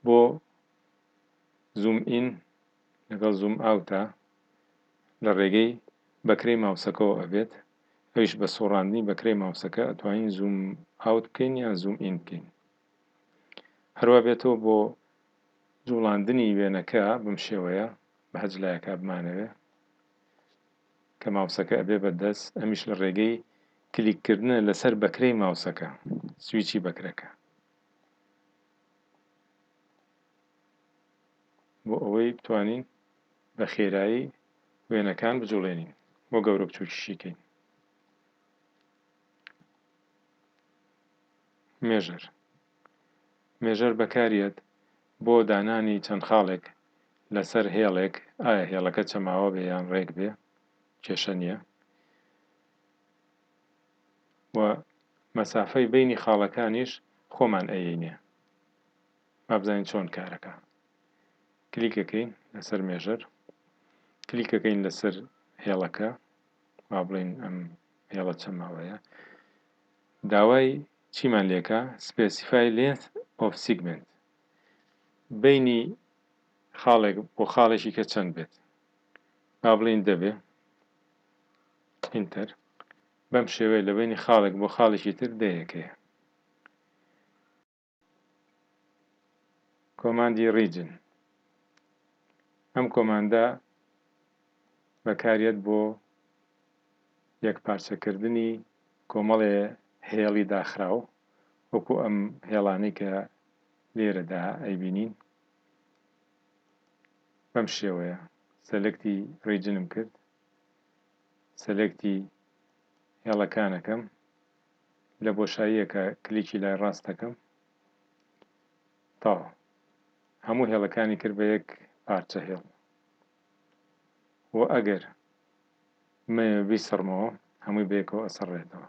بۆ زووم ئین لەگەڵ زووم ئاوتە لە ڕێگەی بەکرەی ماوسەکەوە ئەبێت ئەویش بە سوڕاندنی بەکرەی ماوسەکە ئەتوانین زووم ئاوت بکەین یان زووم ئین بکەین هەروا بێتەوە بۆ جوڵاندنی وێنەکە بم شێوەیە بە هەج لایەکە بمانەوێ کە ماوسەکە ئەبێ بە دەست ئەمیش لە ڕێگەی کلیککردنە لەسەر بەکرەی ماوسەکە سویچی بەکرەکە بۆ ئەوەی بتوانین بە خێرایی وێنەکان بجوڵێنین و گەورە بچووکیشی کەین مێژەر مێژەر بەکاریەت بۆ دانانی چەند خاڵێک لەسەر هێڵێک ئایا هێڵەکە چەماوە بێ یان ڕێک بێ کێشە نییە و مەسافەی بەینی خاڵەکانیش خۆمان ئەیەینێ با بزانین چۆن کارەکا کلیکەکەین لەسەر مێژەر کلیکەکەین لەسەر هێڵەکە با بڵین ئەم هێڵە چەند ماوەیە داوای چیمان لێکە سپێسیفای لێنث ئۆف سیگمنت بینی خاڵێک بۆ خاڵێکی کە چەند بێت با بڵین دەبێ Enter، بەم شێوەیە لە بەینی خاڵێک بۆ خاڵێکی تر دەیەک هەیە. کۆماندی Region، ئەم کۆماندە بەکاریەت بۆ یەکپارچەکردنی کۆمەڵێ هێڵی داخراو وەکو ئەم هێڵانەی کە لێرەدا ئەیبینین. بەم شێوەیە سەلکتی ڕیجنم کرد سەلکتی هێڵەکانەکەم لە بۆشاییەکە کلیکی لای ڕاستەکەم تاوە هەموو هێڵەکانی کرد بە یەک پارچە هێڵ و ئەگەر من بیسڕمەوە هەمووی بەیەکەوە ئەسڕێتەوە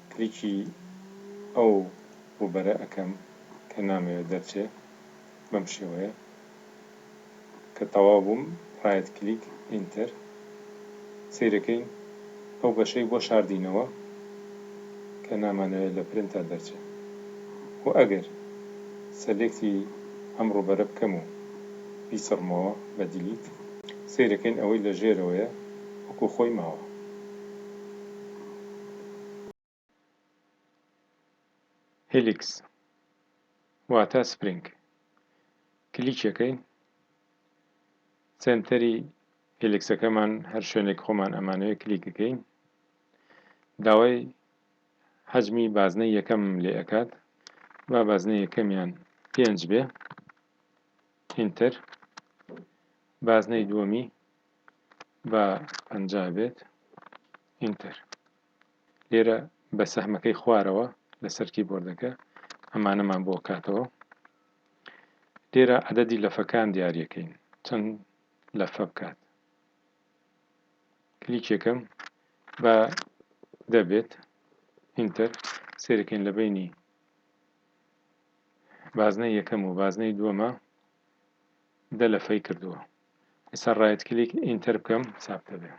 کلیکی ئەو وبەرە ئەکەم کە نامەوێ دەرچێ بەم شێوەیە کە تەواو بووم ڕایت کلیک ئینتەر سەیرەکەین ئەو بەشەی بۆ شاردینەوە کە نامانەوێ لە پرنتەر دەرچێ و ئەگەر سەلێکتی ئەم ڕووبەرە بکەم و بیسڕمەوە بە دیلیت سەیرەکەین ئەوەی لە ژێرەوەیە وەکو خۆی ماوە. هیلیکس واتە سپرینگ کلیکیەکەین سنتەری هلیکسەکەمان هەر شوێنێک خۆمان ئەمانەوێت کلیکەکەین داوای حەجمی بازنە یەکەم لێ ئەکات با بازنە یەکەمیان پێنج بێ ئینتر بازنەی دووەمی با پەنجا بێت ئینتەر. لێرە بە سەهمەکەی خوارەوە لەسەر کیبۆردەکە ئەمانەمان بۆ کاتەوە لێرە عدەدی لەفەکان دیارەکەین چەند لەفە بکات کلیکێکم بە دەبێت ئینتەر سێرەکەین لە بینی بازنەی یەکەم و بازنەی دووەمە دە لەفەی کردووە ئیستا ڕایت کلیک ئینتەر بکەم چاپ دەبێ.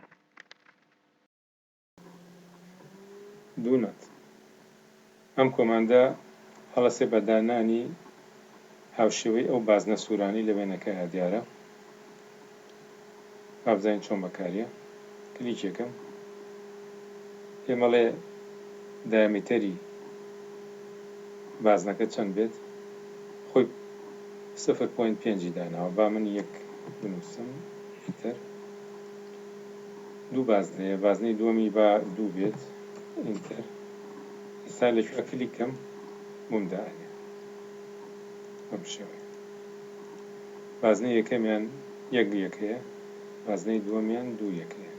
دوو نۆت. ئەم کۆماندە هەڵەسێ بە دانانی هاوشێوەی ئەو بازنە سورانەی لە وێنەکەیا دیارە. با بزانین چۆن بەکاریە. کلیکێکم پێمەڵێ دایامیتەری بازنەکە چەند بێت خۆی سفر پۆینت پێنجی داناوە با من یەک بنوسم ئینتەر دوو بازنە هەیە بازنەی دووەمی با دوو بێت ئینتەر ئێستا لەکوێ کلیکم بووم دانێ بەم شێوەیە بازنە یەکەمیان یەک یەکەیە بازنەی دووەمیان دوو یەکەیە.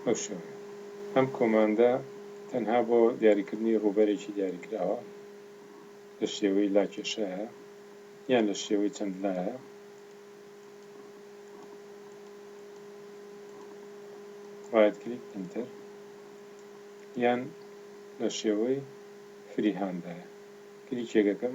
بەم شێوەیە ئەم کۆماندە تەنها بۆ دیاریکردنی ڕووبەرێکی دیاریکراوە لە شێوەی لاکێشەیە یان لە شێوەی چەند لایە. ڕایت کلیک ئینتەر یان لە شێوەی فریهاندایە کلیکێک دەکەم